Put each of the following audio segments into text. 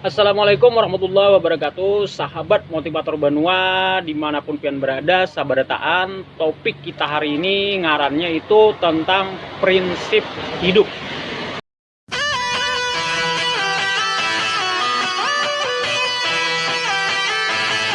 Assalamualaikum warahmatullahi wabarakatuh Sahabat motivator Banua Dimanapun pian berada Sabarataan Topik kita hari ini Ngarannya itu tentang prinsip hidup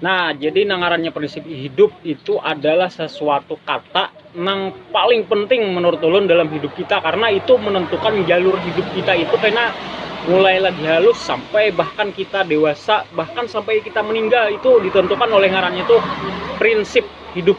Nah, jadi nangarannya prinsip hidup itu adalah sesuatu kata yang paling penting menurut ulun dalam hidup kita karena itu menentukan jalur hidup kita itu karena mulai lagi halus sampai bahkan kita dewasa bahkan sampai kita meninggal itu ditentukan oleh ngarannya itu prinsip hidup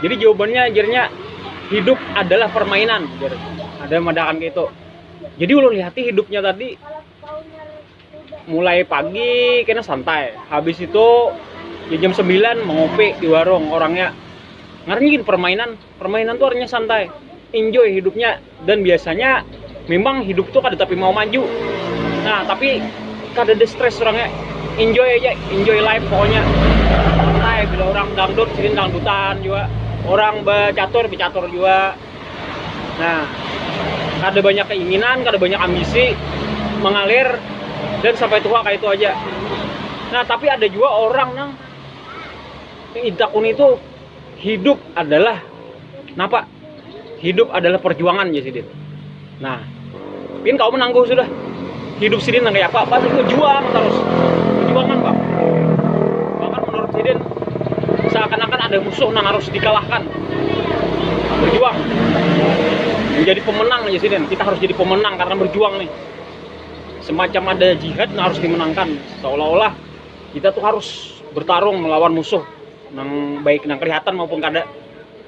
Jadi jawabannya ajarnya hidup adalah permainan. Ada madakan gitu. Jadi ulun lihati hidupnya tadi mulai pagi kena santai. Habis itu ya jam 9 mengopi di warung orangnya ngarnya permainan permainan tuh artinya santai enjoy hidupnya dan biasanya memang hidup tuh kada tapi mau maju nah tapi kada ada stres orangnya enjoy aja enjoy life pokoknya santai bila orang dangdut sini dangdutan juga orang becatur becatur juga nah kada banyak keinginan kada banyak ambisi mengalir dan sampai tua kayak itu aja nah tapi ada juga orang nang itakun itu hidup adalah napa hidup adalah perjuangan ya sidin nah pin kau menangguh sudah hidup sidin nang kayak apa apa itu juang terus perjuangan bang bahkan menurut sidin seakan-akan ada musuh nang harus dikalahkan berjuang menjadi pemenang ya sidin kita harus jadi pemenang karena berjuang nih semacam ada jihad nang harus dimenangkan seolah-olah kita tuh harus bertarung melawan musuh nang baik nang kelihatan maupun kada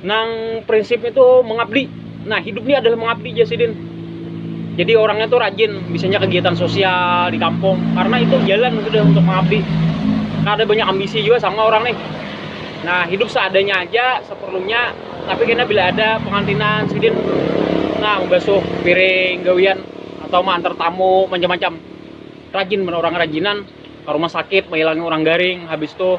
Nang prinsipnya itu mengabdi. Nah, hidup ini adalah mengabdi ya Sidin. Jadi orangnya tuh rajin, misalnya kegiatan sosial di kampung, karena itu jalan sudah untuk mengabdi. Nah, ada banyak ambisi juga sama orang nih. Nah, hidup seadanya aja, seperlunya, tapi kena bila ada pengantinan Sidin, nah membasuh piring, gawian, atau mengantar tamu, macam-macam. Rajin, orang rajinan, ke rumah sakit, menghilangi orang garing, habis itu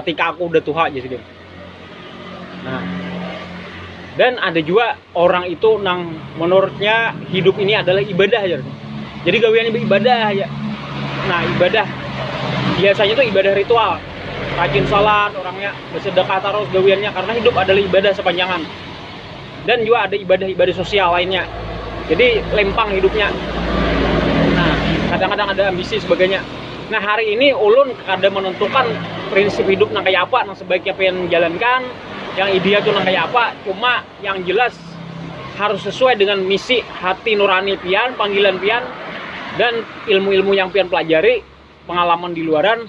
ketika aku udah tuha aja sih nah dan ada juga orang itu nang menurutnya hidup ini adalah ibadah aja jadi gawian ibadah aja nah ibadah biasanya tuh ibadah ritual rajin sholat orangnya bersedekah terus gawiannya karena hidup adalah ibadah sepanjangan dan juga ada ibadah-ibadah sosial lainnya jadi lempang hidupnya nah kadang-kadang ada ambisi sebagainya nah hari ini ulun kada menentukan prinsip hidup nang kaya apa nang sebaiknya pengen menjalankan yang ideal tu nang kaya apa cuma yang jelas harus sesuai dengan misi hati nurani pian panggilan pian dan ilmu-ilmu yang pian pelajari pengalaman di luaran